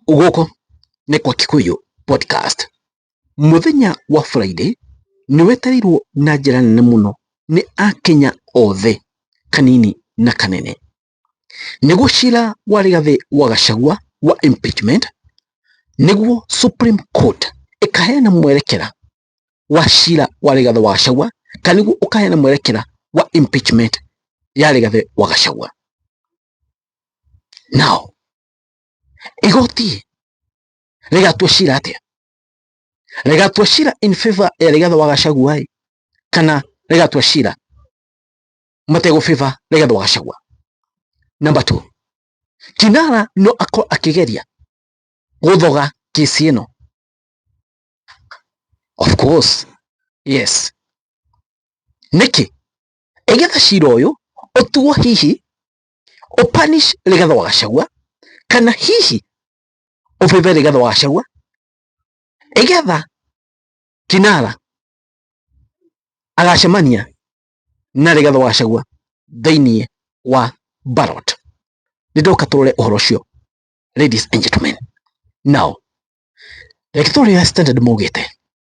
Gũkũ nĩ kwa Kikuyu Podcast. Mũthenya wa Friday nĩ wetereirwo na njĩra nene mũno nĩ Akenya othe kanini na kanene. Nĩguo cira wa Rigathi wa Gachagua wa impeachment nĩguo Supreme Court ĩkaheana mwerekera wa cira wa Rigathi wa Gachagua kana nĩguo ũkaheana mwerekera wa impeachment ya Rigathi wa Gachagua. Now igoti rĩgatua cira atĩa rĩgatua cira in favor ya rĩgatha wa gacagua kana rĩgatua cira mategũ favor rĩgatha wa gacagua number two kinara no akorwo akĩgeria gũthoga kĩsi ĩno of course yes nĩkĩ ĩgetha cira ũyũ ũtuo hihi ũpanish Rigathĩ wa Gachagua kana hihi ũbebe Rigathĩ wa Gachagua ĩgetha Kinara agacemania na Rigathĩ wa Gachagua thĩinĩ wa ballot. Nĩndoka tũrore ũhoro ũcio ladies and gentlemen. Now, reke tũrore ũrĩa Standard maugĩte.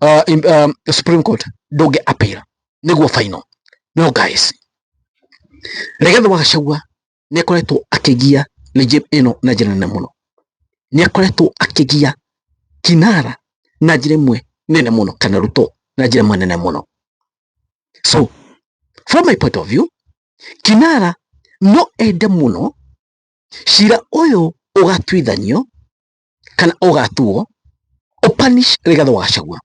uh, in, um, Supreme Court ndũngĩ appeal nĩguo final no guys Rigathi wa Gachagua nĩ akoretwo akĩgia mĩjĩ ĩno na njĩra nene mũno nĩ akoretwo akĩgia Kinara na njĩra ĩmwe nene mũno kana Ruto na njĩra ĩmwe nene mũno so from my point of view Kinara no ende mũno cira ũyũ ũgatuithanio kana ũgatuo ũpanish Rigathĩ wa Gachagua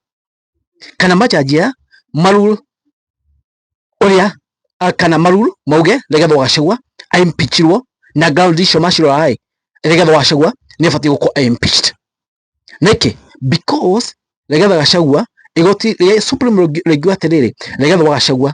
kana majanjia maruru ũrĩa kana maruru mauge Rigathĩ wa Gachagua aimpichirwo na ground icio macirora-ĩ Rigathĩ wa Gachagua nĩabatiĩ gũkorwo aimpeached nĩkĩ because Rigathĩ Gachagua igoti rĩa Supreme rĩngiuga atĩrĩrĩ Rigathĩ wa Gachagua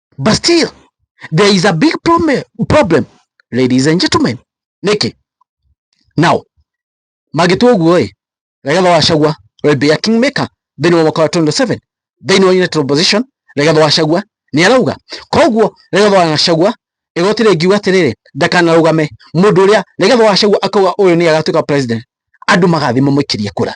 but still there is a big problem, problem ladies and gentlemen niki now magitwo guo ri regatho wa cagua will be a kingmaker thini wa mwaka wa 27 thini wa united opposition regatho wa cagua ni arauga koguo regatho wa cagua igoti ringiuga atiriri ndakanarugame mundu uria regatho wa cagua akauga uyu ni agatuika president andu magathi mamuikirie kura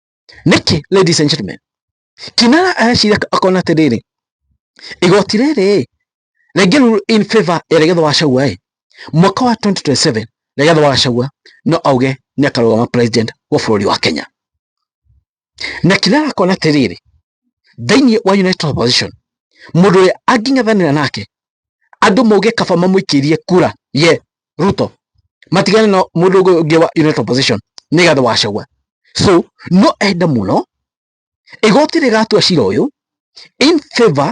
Nĩkĩ ladies and gentlemen? Kinara areciria akona atĩrĩrĩ, igoti rĩrĩ rĩngĩ rule in favor ya Rigathĩ wa Gachagua ĩ, mwaka wa 2027 Rigathĩ wa Gachagua no auge nĩ akarũgama president wa bũrũri wa Kenya. Na Kinara akona atĩrĩrĩ, thĩinĩ wa United Opposition mũndũ ũrĩa angĩng'ethanĩra nake andũ mauge kaba mamũikĩrie kura ye Ruto matigane na mũndũ ũngĩ wa United Opposition nĩ gathe wa Gachagua so no ende mũno igoti rĩgatua cira ũyũ in favor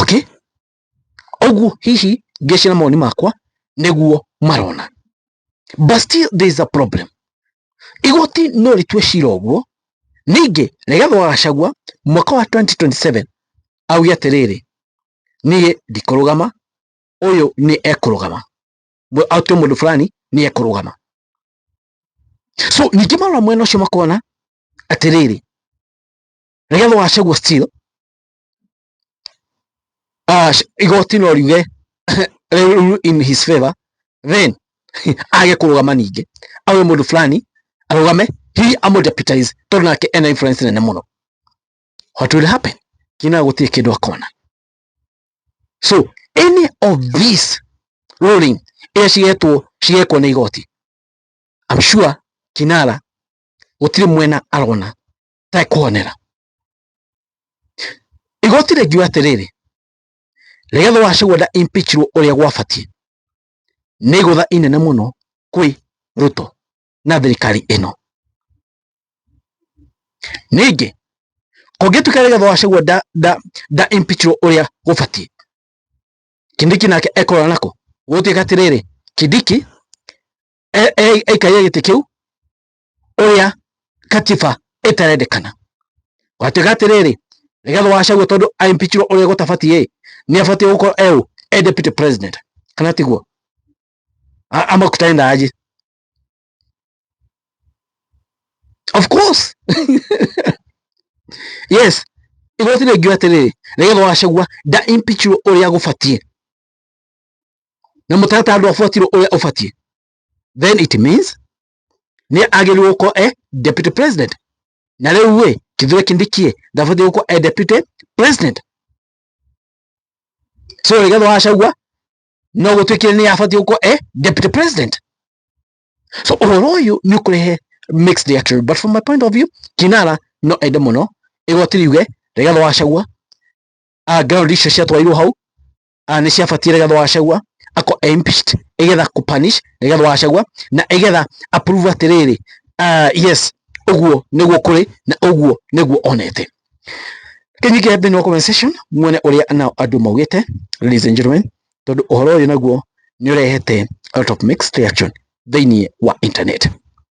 Okay? Ũguo hihi ngĩcira mawoni makwa nĩguo marona. But still there is a problem. Igoti no rĩtue cira ũguo, ningĩ Rigathĩ wa Gachagua mwaka wa 2027 auge atĩrĩrĩ, niĩ ndikũrũgama, ũyũ nĩ ekũrũgama, atue mũndũ fulani nĩ ekũrũgama. So ningĩ marora mwena ũcio makona atĩrĩrĩ, Rigathi wa Gachagua still ah, sh- igoti no riuge rĩu in his favor then age kũrũgama ningĩ awe mũndũ fulani arũgame hihi amũdeputize tondũ nake ena influence nene mũno what will happen kina gũtirĩ kĩndũ akona so any of this ruling ĩrĩa cigetwo cigekwo nĩ igoti I'm sure kinara gũtirĩ mwena arona tekwonera igoti rĩngiuga atĩrĩrĩ rĩgetha wacagwo nda impeachirwo ũrĩa gwabatiĩ nĩ igũtha inene mũno kwĩ Ruto na thirikari ĩno ningĩ kũngĩtuĩka rĩgetha wacagwo nda nda nda impeachirwo ũrĩa gũbatiĩ Kindiki nake ekorwo nako gũtuĩka atĩrĩrĩ Kindiki e- e- aikaria gĩtĩ kĩu uria katiba itarendekana watuga atiriri nigetha wacagua tondu impeachirwo uria gutabatie ni abatie gukorwo eu e deputy president kana tiguo ama kutaenda aje of course yes igoti rĩngĩ atĩrĩrĩ nĩgetha wacagua nda impeachirwo ũrĩa gũbatiĩ na mũtaratara ndwabuatirwo ũrĩa ũbatiĩ then it means nĩ agĩrĩirwo gũkorwo e deputy president na rĩu rĩ Kithure Kindiki ndabatiĩ gũkorwo e deputy president so Rigathi wa Gachagua no gũtuĩkire nĩ abatiĩ gũkorwo e deputy president so ũhoro ũyũ nĩ ũkũrehe mixed reaction but from my point of view Kinara no ende mũno igoti riuge Rigathi wa Gachagua ah, ground icio ciatwarirwo hau ah, nĩ ciabatie nĩgetha wacagua ako impeached igetha ku punish igetha wacagua na igetha approve atiriri uh, yes uguo niguo kuri na uguo niguo onete kinyike thini wa comment section mwene uria na andu maugite ladies and gentlemen tondu uhoro uyu naguo ni urehete out of mixed reaction thini wa internet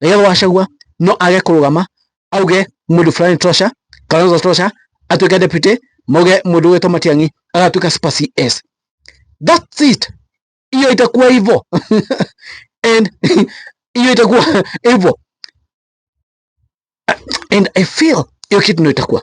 Rigathi wa Gachagua no age kũrũgama auge mũndũ fulani tosha Kalonzo tosha atuĩke deputy moge mũndũ wetwo Matiang'i agatuĩka super CS that's it hiyo itakuwa hivyo and hiyo itakuwa hivyo and I feel hiyo kitu ndio itakuwa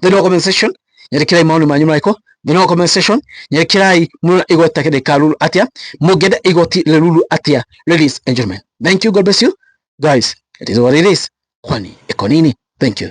thĩinĩ wa comment section nyerekerai maoni manyu marĩkũ thĩinĩ wa comment section nyerekerai mũrona igoti rĩkaruru atĩa mũngĩenda igoti rĩruru atĩa ladies and gentlemen thank you god bless you guys it is what it is kwani ĩkonini thank you